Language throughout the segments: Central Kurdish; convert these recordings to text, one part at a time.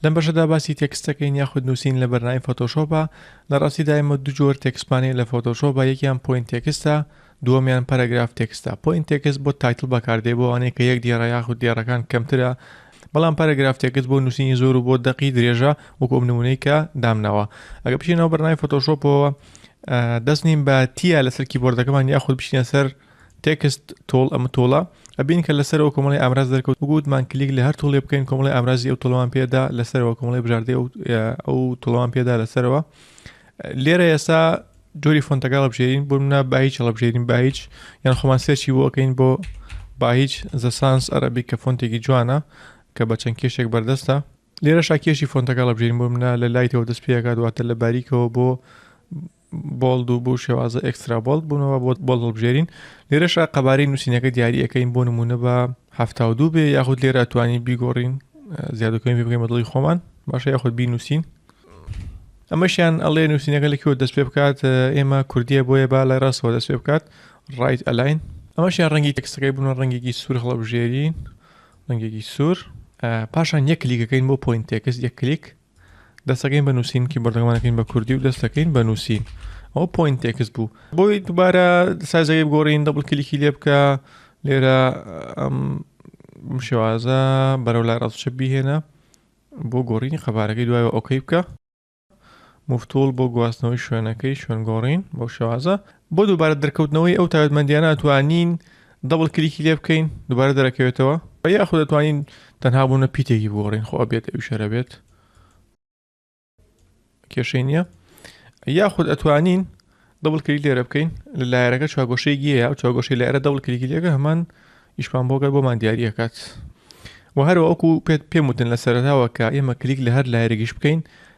لەم بەشەدا باسی تێکست دەکەین یاخود نووسین لە بەرنامەی فۆتۆشۆپە لە ڕاستیدا ئێمە دوو جۆر تێکستمانەیە لە فۆتۆشۆپە یەکیان پۆینت تێکستە دووەمیان پەرەگراف تێکستە پۆینت تێکست بۆ تایتڵ بەکاردێ بۆ ئەوانەیە کە یەک دێڕە یاخود دێڕەکان کەمترە بەڵام پەرەگراف تێکست بۆ نووسینی زۆر و بۆ دەقی درێژە وەکو ئەم نمونەی کە دامناوە ئەگە بچینەوە بەرنامەی فۆتۆشۆپەوە دەستنیم بە تیا لەسەر کیبۆردەکەمان یاخود بچینە سەر تێکست، تۆڵ، ئەم تۆڵە ئەبین کە لە سەرەوە کۆمەڵی ئامراز دەرکەوت وەکو وتمان کلیک لە هەر تۆڵێ بکەین کۆمەڵی ئامرازی ئەو تۆڵەمان پێدا لە سەرەوە کۆمەڵی بژاردەی ئەو ئەو تۆڵەمان پێدا لە سەرەوە لێرە ئێستا جۆری فۆنتەکە هەڵبژێرین بۆ منە با هیچ هەڵبژێرین با هیچ یان خۆمان سێرچی بۆ ئەەکەین بۆ با هیچ زەسانس ئەرەبی کە فۆنتێکی جوانە کە بە چەند کێشێک بەردەستە لێرە شاکێشی فۆنتەکە هەڵبژێرین بۆ منە لە لای تەوە دەست پێکات واتە لە باریکەوە بۆ بۆڵد و بۆ شێوازە ئەکسترا بۆڵد بوونەوە بۆ بۆڵ هەڵبژێرین لێرەشا قەبارەی نووسینەکە دیاریەکەین بۆ نمونە بە هەفتا و دوو بێ یاخود لێرە توانی بیگۆڕین زیادەکەین بگەین بەدڵی خۆمان باشە یاخود بی نووسین ئەمەشیان ئەڵێ نووسینەکە لەکیەوە دەست پێ بکات ئێمە کوردیە بۆیە با لای ڕاستەوە دەست پێ بکات ڕایت ئەلاین ئەمەشیان ڕەنگی تەکسەکەی بوون ڕەنگێکی سوور هەڵبژێرین ڕەنگێکی سوور پاشان یەک کلیکەکەین بۆ پوین تێکس یەک کلیک دەستەکەین بە نووسین کی بەردەمانەکەین بە کوردی و دەستەکەین بە نووسین ئەو پوین تێکس بوو بۆی دووبارە سازەکەی بگۆڕین دەبڵ کلیکی لێ بکە لێرە ئەم شێوازە بەرەو لای ڕاستچە بهێنە بۆ گۆڕینی قەبارەکەی دوایەوە ئۆکەی بکە مفتول بۆ گواستنەوەی شوێنەکەی شوێن گۆڕین بۆ شێوازە بۆ دووبارە دەرکەوتنەوەی ئەو تایبەتمەندیانە ئەتوانین دەبڵ کلیکی لێ بکەین دووبارە دەرەکەوێتەوە بە یاخود دەتوانین تەنها بوونە پیتێکی بگۆڕین خۆ بێت ئەو شەرە بێت کێشەی نییە یاخود ئەتوانین دەبڵ کلیک لێرە بکەین لە لایەرەکە چاگۆشەی گیەیە و چاگۆشی لایرە دەبڵ کلیکی لێگە هەمان ئیشمان بۆگەر بۆمان دیارریەکات و هەروەکو پێت پێم وتن لە سەرتاوە کە ئێمە کلیک لە هەر لایرگیش بکەین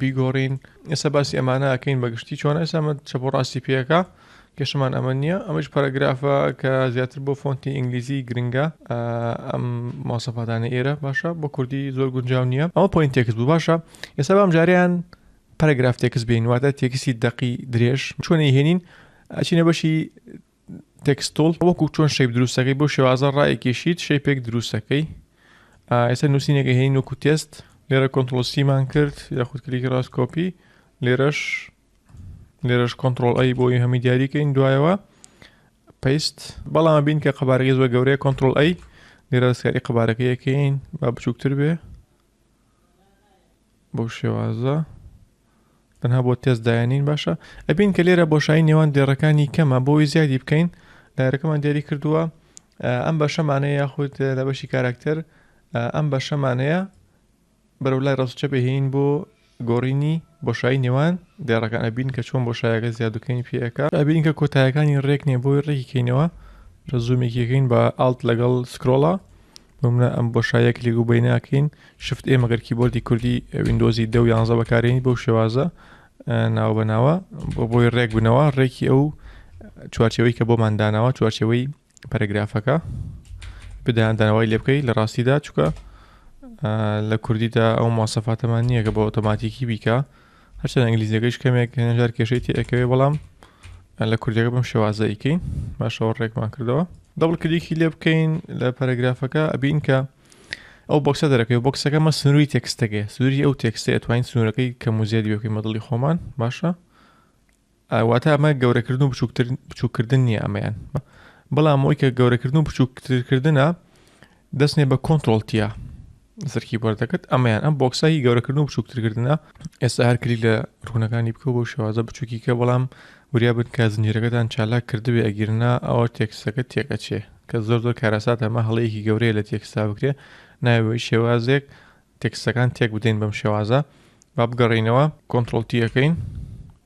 بیگۆڕین ئێستا باسی ئەمانە ئەکەین بەگشتی چۆن ئێسامە چە بۆ ڕاستی پێەکە کێشمان ئەمە نییە ئەمەش پەرەگرافە کە زیاتر بۆ فۆنتی ئینگلیزی گرنگە ئەم ماسەپاتانە ئێرە باشە بۆ کوردی زۆر گونجاو نییە ئەمە پوین تێکس بوو باشە ئێستا بام جاریان پەرەگراف تێکس بین واتە تێکسی دەقی درێژ چۆنی هێنین ئەچینە بەشی تێکستوڵ وەکو چۆن شەیب دروستەکەی بۆ شێوازە ڕایەکێشیت شەیپێک دروستەکەی ئێستا نووسینێکە هێنین وەکو تێست لێرە کۆنتۆسیمان کرد یاخود کلیکی ڕاست کۆپی لێرەش لێرەش کۆنتترۆل ئەی بۆی هەمی دیاریکەین دوایەوە پیست بەڵام بین کە قەبارەکەی زۆر گەورەیە کۆنتترۆل ئەی لێرە دەستکاری قەبارەکەیەکەین با بچووکتر بێ بەو شێوازە تەنها بۆ تێست داێنین باشە ئەبین کە لێرە بۆشایی نێوان دێڕەکانی کەمە بۆی زیادی بکەین لایرەکەمان دیاری کردووە ئەم بەشەمانەیە یاخود لە بەشی کاراکتەر ئەم بەشەمانەیە بەرەو لای ڕاستچە بهێین بۆ گۆڕینی بۆشایی نێوان دێڕەکان ئەبینین کە چۆن بۆشایەکە زیاد و کەمی پێ ئەکا ئەبینین کە کۆتایەکانی ڕێک نیە بۆی ڕێکی کەینەوە لە زوومێکی کەین بە ئاڵت لەگەڵ سکرۆڵە بمنە ئەم بۆشایە کلێک و بەی ناکەین شفت ئێ مەگەر کیبۆردی کوردی وینندۆزی دە و یانزە بەکارێنی بەو شێوازە ناو بەناوە بۆ بۆی ڕێک بنەوە ڕێکی ئەو چوارچەوەی کە بۆمان داناوە چوارچەوەی پەرەگرافەکە بدەیان دانەوەی لێ بکەیت لە ڕاستیدا چووکە لە کوردیدا ئەو ماسەفاتەمان نییە کە بە ئۆتۆماتیکی بیکە هەرچەند ئەنگلیزیەکەش کەمێک هێنەژار کێشەی تێکەوێ بەڵام لە کوردەکە بم شێوازەیکەی باشەوە ڕێکمان کردەوە دەبڵ کلیکی لێ بکەین لە پەرەگرافەکە ئەبین کە ئەو بۆکسە دەرەکەی بۆکسەکە مە سنووری تێکستەکەی سنووری ئەو تێکستە توانین سنوورەکەی کە موزیێت بێکەی مەدڵی خۆمان باشە ئا واتا ئەمە گەورەکردن و بچووکتر بچووکردن نییە ئەمەیان بەڵام ئەوی کە گەورەکردن و بچووکترکردە دەستێ بە کۆنتترۆلتیە زرکی بەردەکرد ئەمەیان ئەم بۆکسایی گەورەکردن و بچووکترکردە ئێستا هەر کلی لە ڕوونەکانی بکە بۆ شێوازە بچووکیکە بەڵام وریا بن کە زنجیرەکەتان چالاک کردبێ ئەگیرنا ئەوە تێکسەکە تێکەچێ کە زۆر زۆر کارەسات ئەمە هەڵەیەکی گەورەیە لە تێکستا بکرێ ناوەی شێوازێک تێکسەکان تێک بدەین بەم شێوازە با بگەڕینەوە کۆنتترۆلتیەکەین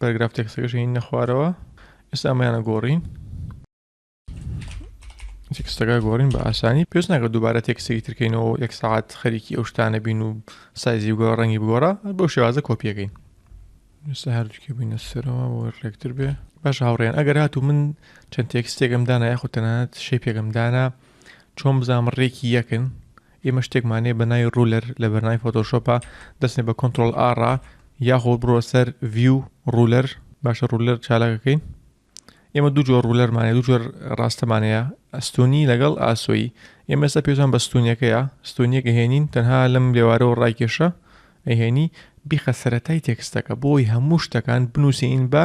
پەرگراف تێکسەکەش هێنە خوارەوە ئێستا ئەمەیانە گۆڕین تێکستەکە گۆڕین بە ئاسانی پێش ناکە دووبارە تێکسێکی ترکەینەوە یەک ساعت خەریکی ئەو شتانە بین و سایزی بگۆ ڕەنگی بگۆڕە بۆ شێوازە کۆپیەکەین ئێستا هەردووکی بینە سەرەوە بۆ ڕێکتر بێ باش هاوڕێن ئەگەر هات و من چەند تێکستێکم دانا یاخود تەنانەت شێ پێگەم دانا چۆن بزانام ڕێکی یەکن ئێمە شتێکمانەیە بە ناوی ڕولەر لە بەرنامەی فۆتۆشۆپا دەچنێ بە کۆنترۆڵ ئاڕا یاخۆ بڕۆ سەر ڤیو ڕولەر باشە ڕولەر چالاکەکەین ئێمە دوو جۆر ڕولەرمانە دوو جۆر ڕاستەمانەیە ئەستونی لەگەڵ ئاسۆیی ئێمە ئێستا پێشان بە ستونیەکەیە ستونیەکە هێنین تەنها لەم لێوارەوە ڕایکێشە ئەهێنی بیخە سەتای تێکستەکە بۆی هەموو شتەکان بنووسین بە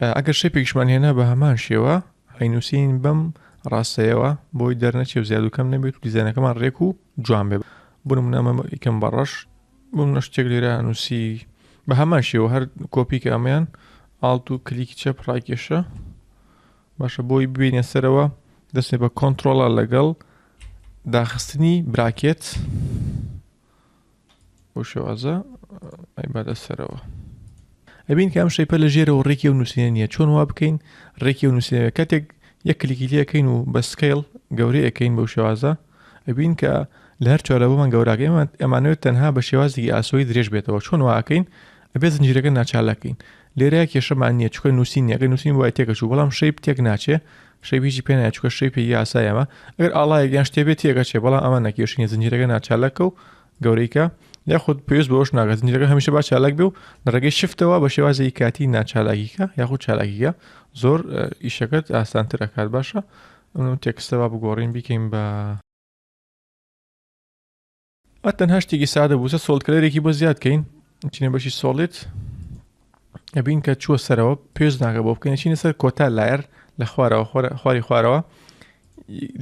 ئەگەر شەپێکیشمان هێنا بە هەمان شێوە هەینووسین بەم ڕاستەیەوە بۆی دەرنەچێ و زیادوکەم نەبێت و دیزانەکەمان ڕێک و جوان بێ بنم نامە ئیکەم بە ڕەش بم نە شتێک لێرە نووسی بە هەمان شێوە هەر کۆپیکە ئەمەیان ئاڵت و کلیکی چەپ ڕاکێشە باشە بۆی ببینە سەرەوە دەستێ بە کۆنتترۆڵە لەگەڵ داخستنی براکێت بۆ شێوازە ئەیبادە سەرەوە ئەبین کە ئەم شەیپە لە ژێرەوە ڕێکی و نووسینە نییە چۆن وا بکەین ڕێکی و نووسینەوە کاتێک یەک کلیکی لەکەین و بە سکیل گەورەی ئەەکەین بەو شێوازە ئەبین کە لە هەر چارە بۆمان گەوراکە ئێمە ئەمانوێت تەنها بە شێوازی ئاسۆی درێژ بێتەوە چۆن واکەین ئەبێ زنجیرەکە ناچالەکەین لێرە کێشەمان نییە چکە نووسین یەکە نووسین وای تێکەچوو بەڵام شەیب تێک ناچێ شەیب هیچی پێ نایە چکە شەی پێ یاسای ئەمە ئەگەر ئاڵایەک یان شتێ بێت تێگەچێ بەڵام ئەمە نەکێشینە زنجیرەکە ناچالەکە و گەورەیکە یاخود پێویست بۆش ناگە زنجیرەکە هەمیشە با چالاک بێ و لە ڕێگەی شفتەوە بە شێوازی کاتی ناچالاکیکە یاخود چالاکیگە زۆر ئیشەکەت ئاسانتر ئەکات باشە تێکستەوە بگۆڕین بیکەین بە ئە تەنها شتێکی سادە بووسە سۆڵکلەرێکی بۆ زیاد کەین چینە بەشی سۆڵێت ئەبین کە چووە سەرەوە پێش ناکە بۆ بکەین چینە سەر کۆتا لایەر لە خوارەوە خواری خوارەوە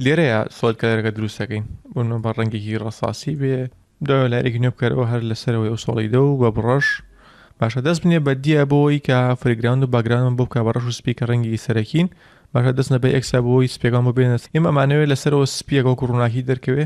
لێرەیە سۆڵ کەلەرەکە دروستەکەین بۆن بە ڕەنگێکی ڕساسی بێ دا لارێکی نوێ بکەرەوە هەر لەسەرەوەی ئەو سۆڵی دە و بە بڕەش باشە دەست بنێ بە دیە بۆی کە فریگراند و باگرانم بۆ بکە بە ڕەش و سپی کە ڕەنگی سەرەکین باشە دەستە بە ئەکسا بۆی سپێکان بۆ بێنێت ئێمە ئەمانەوێت لەسەرەوە سپیەکە و ڕووناکی دەرکەوێ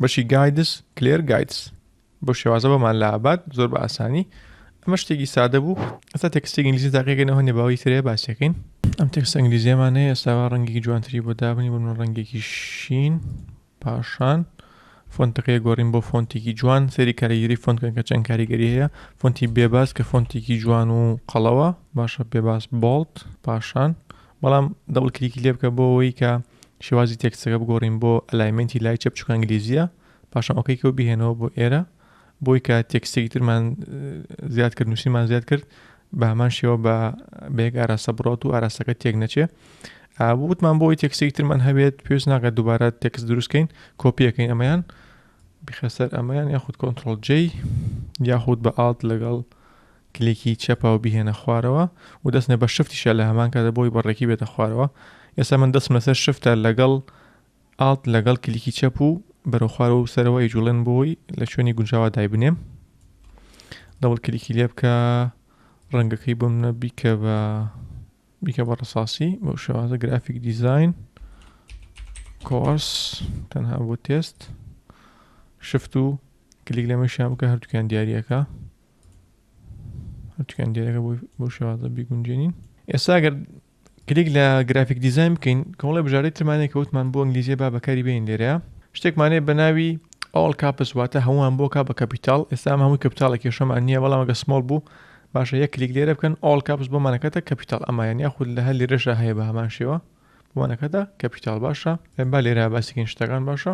بەشی گایدس کلێر گایدس بۆ شێوازە بۆمان لە ئابات زۆر بە ئاسانی ئەمە شتێکی سادە بوو ئەستا تێکستی ئینگلیزی تاقیگەنەوە نێ باوی ترێ باسیەکەین ئەم تێکست ئەنگلیزیەمان هەیە ئێستاوا ڕەنگی جوانتری بۆ دابنی بۆ من ڕەنگێکی شین پاشان فۆنتەکەی گۆڕین بۆ فۆنتێکی جوان سەری کاریگەری فۆنتکەن کە چەند کاریگەری هەیە فۆنتی بێباز کە فۆنتێکی جوان و قەڵەوە باشە پێباز بۆڵت پاشان بەڵام دەبڵ کلیکی لێ بکە بۆ ئەوەی کە شێوازی تێکستەکە بگۆڕین بۆ ئەلایمنتی لای چەپ چکە ئەنگلیزیە پاشان ئۆکەیکەوە بهێنەوە بۆ ئێرە بۆی کە تێکستێکی ترمان زیاد کرد نووسیمان زیاد کرد بە هەمان شێوە بە بەیەک ئاراستە بڕات و ئاراستەکە تێک نەچێ وتمان بۆی تێکسێکی ترمان هەبێت پێویست ناکات دووبارە تێکس دروستکەین کۆپیەکەین ئەمەیان بخەسەر ئەمەیان یاخود کۆنتترۆل جی یاخود بە ئاڵت لەگەڵ کلیکی چەپاو بیهێنە خوارەوە و دەستنە بە شفتیشە لە هەمان کاتە بۆی بە ڕێکی بێتە خوارەوە ئێستا من دەستم لەسەر شفتە لەگەڵ ئاڵت لەگەڵ کلیکی چەپ و بەرەو خوارەوە و سەرەوە ئەیجوڵێن بۆی لە شوێنی گونجاوا دایبنێم دەوڵ کلیکی لێ بکە ڕەنگەکەی بۆ منە بیکە بە بیکە بە ڕساسی بۆ شێوازە گرافیک دیزین کۆرس تەنها بۆ تێست شفت و کلیک لەمەشیان بکە هەردووکیان دیارریەکە هەرچکەن دێرەکە بۆ شێوازە بیگونجێنین ئێستا گەر کلیک لە گرافیک دیزاین بکەین کۆڵی بژارەی ترمانێک کەوتمان بۆ ئەنگلیزیە با بەکاری بین لێرە شتێکمانەیە بە ناوی ئەڵ کاپس واتە هەمووان بۆ کا بە کەپیتال ئێستا هەمووی کەپتالە کێشەمان نییە بەڵام گە سمۆڵ بوو باشە یەک کلیک لێرە بکەن ئەڵ کاپس بۆمانەکەتە کەپیتال ئەمایان یاخود لە هەر لێرەشە هەیە بە هەمان شێوە بۆمانەکەدا کەپیتال باشە با لێرە باسیکن شتەکان باشە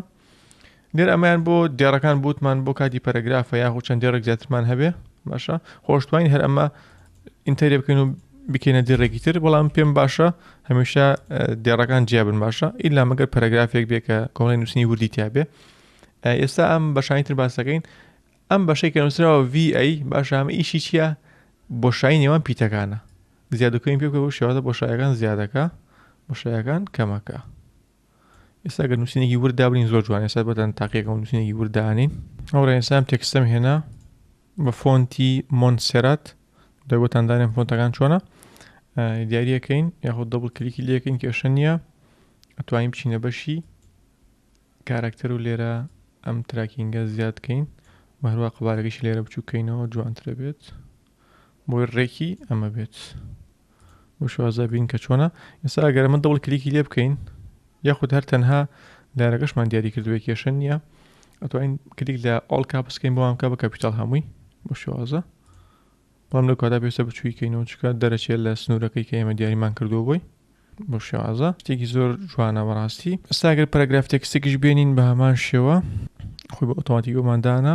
نێر ئەمەیان بۆ دێڕەکان بوتمان بۆ کاتی پەرەگرافە یاخو چەند دێڕێک زیاترمان هەبێ باشە خۆشتوین هەر ئەمە ئینتەری بکەین و بکەینە دێڕێکی تر بەڵام پێم باشە هەمیشە دێڕەکان جیابن باشە ئیلا مەگەر پەرەگرافێک بێ کە کۆڵی نووسنی وردی تیاابێ ئێستا ئەم بەشانی تر باسەکەین ئەم بەشەی کە نووسراوە VA باشام ئیشی چییە بۆشایی نێوان پیتەکانە زیادکەین پێ بکە شێوازە بۆشایەکان زیادەکە بۆشایەکان کەمەکە. ئێستا گەر نووسینێکی ورد دابنین زۆر جوان ئێستا بەدەن تاقیەکەم نووسینێکی ورد دانین ئەو ڕێنسام تێکستم هێنا بە فۆنتی مۆنسێرات دەگوتان دانێن فۆنتەکان چۆنە دیارەکەین یاخود دەبڵ کلیکی لەکەین کێشە نییە ئەتوانین بچینە بەشی کارکتەر و لێرە ئەم تراکینگە زیادکەین و هەروە قوبارەکەش لێرە بچووکەینەوە جوانترە بێت بۆی ڕێکی ئەمە بێت بۆ شوازە بین کە چۆنە ئێستا ئەگەر ئەمە دەوڵ کلیکی لێ بکەین یاخود هەر تەنها لارەکەشمان دیاری کردوێ کێشە نییە ئەتوانین کلیک لە ئۆڵ کا بسکەین بۆم کا بە کاپیتال هەمووی بۆ شوازە بەڵام لە کادا پێویستە بچوویکەینەوە چکە دەرەچێت لە سنوورەکەی کە ئێمە دیاریمان کردووە بۆی بۆ شێوازە شتێکی زۆر جوانە بەڕاستی ئەساگەر پەرگراف تێکستێکیش بێنین بە هەمان شێوە خۆی بە ئۆتۆماتیکۆماندانە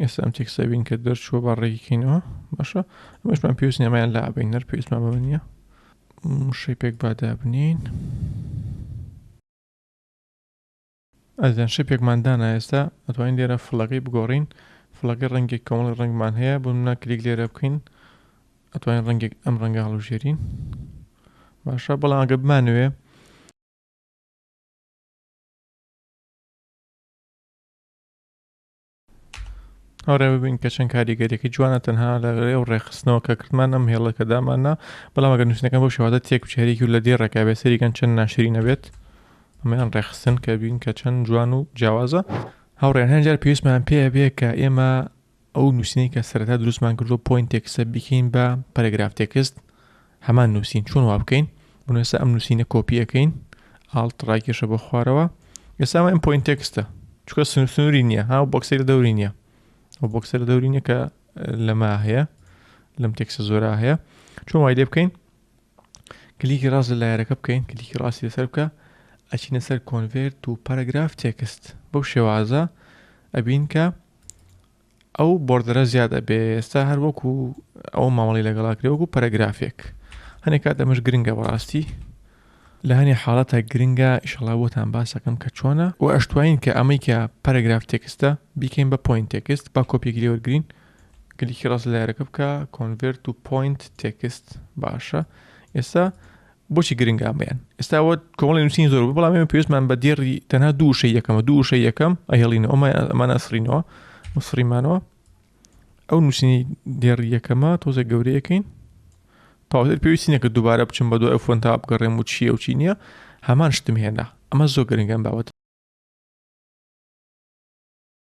ئێستا ئەم تێکستە بین کە دەرچووە با ڕێگی کەینەوە باشە ئەمەشمان پێویست نێمایان لا بین نەر پێویستمان بەمە نییە شەپێک بادا بنین ئەزیان شەپێکمان دانا ئێستا ئەتوانین لێرە فڵەکەی بگۆڕین فڵەکە ڕەنگێک کەمەڵی ڕنگمان هەیە بۆ منە کلیک لێرە بکەین ئەتوانین ڕەنگێک ئەم ڕەنگە هەڵوژێرین باشە بەڵام ئەگە بمانوێ ئەوڕێ ببین کە چەند کاریگەریەکە جوانە تەنها لە ئەو ڕێخستنەوە کە کردمان ئەم هێڵەکە داماننا بەڵام ئەگەر نووسنەکە بۆ شوادە تێک بچێریکی و لە دێ ڕێکا بێ سەریگەن چەند ناشری نەبێت ئەمەیان ڕێخستن کە بین کە چەند جوان و جیاوازە هاوڕێن هەنجار پێویستمان پێ بێ کە ئێمە ئەو نووسنەی کە سەرتا دروستمان کردو پوین تێکسە بکەین بە پەرگراف تێکست هەمان نوسین چۆن وابکەین بۆ نوێسا ئەم نووسینە کۆپی ئەەکەین ئاڵت ڕاکێشە بۆ خوارەوە ئێسا ئەم پوین تێکستە چکە سنووری نییە ها بۆکسی لە دەوری نییە ئەو بۆکسە لە دەوری نیە کە لەما هەیە لەم تێکسە زۆرا هەیە چۆن وای لێ بکەین کلیکی ڕاست لە لایەرەکە بکەین کلیکی ڕاستی لەسەر بکە ئەچینە سەر کۆنڤێرت و پەرەگراف تێکست بەو شێوازە ئەبین کە ئەو بۆردەرە زیاد ئەبێ ئێستا هەر وەکو ئەوە مامەڵی لەگەڵ ئەکرێ وەکو پەرەگرافێک هەنێ کات ئەمەش گرنگە بەڕاستی لە هەنێ حاڵەتە گرنگە ئیشەڵا بۆتان باسەکەم کە چۆنە و ئەشتوانین کە ئەمەی کە پەرەگراف تێکستە بیکەین بە پوین تێکست با کۆپیەکی لێ وەرگرین کلیکی ڕاست لایەرەکە بکە کۆنڤێرت و پوینت تێکست باشە ئێستا بۆچی گرنگە ئەمەیان ئێستا وە کۆمەڵی نووسین زۆر بەڵام ئێمە پێویستمان بە دێڕی تەنها دوو شە یەکەمە دوو شە یەکەم ئەهێڵینەوە ئەمان ئەسرینەوە مسڕیمانەوە ئەو نووسینی دێڕی یەکەمە تۆزێک گەورەیەکەین تاوتر پێویستی نەکە دووبارە بچم بە دوای فۆن تا بگەڕێم و چیە و چی نییە هەمان شتم هێنا ئەمە زۆر گرنگەم باوەت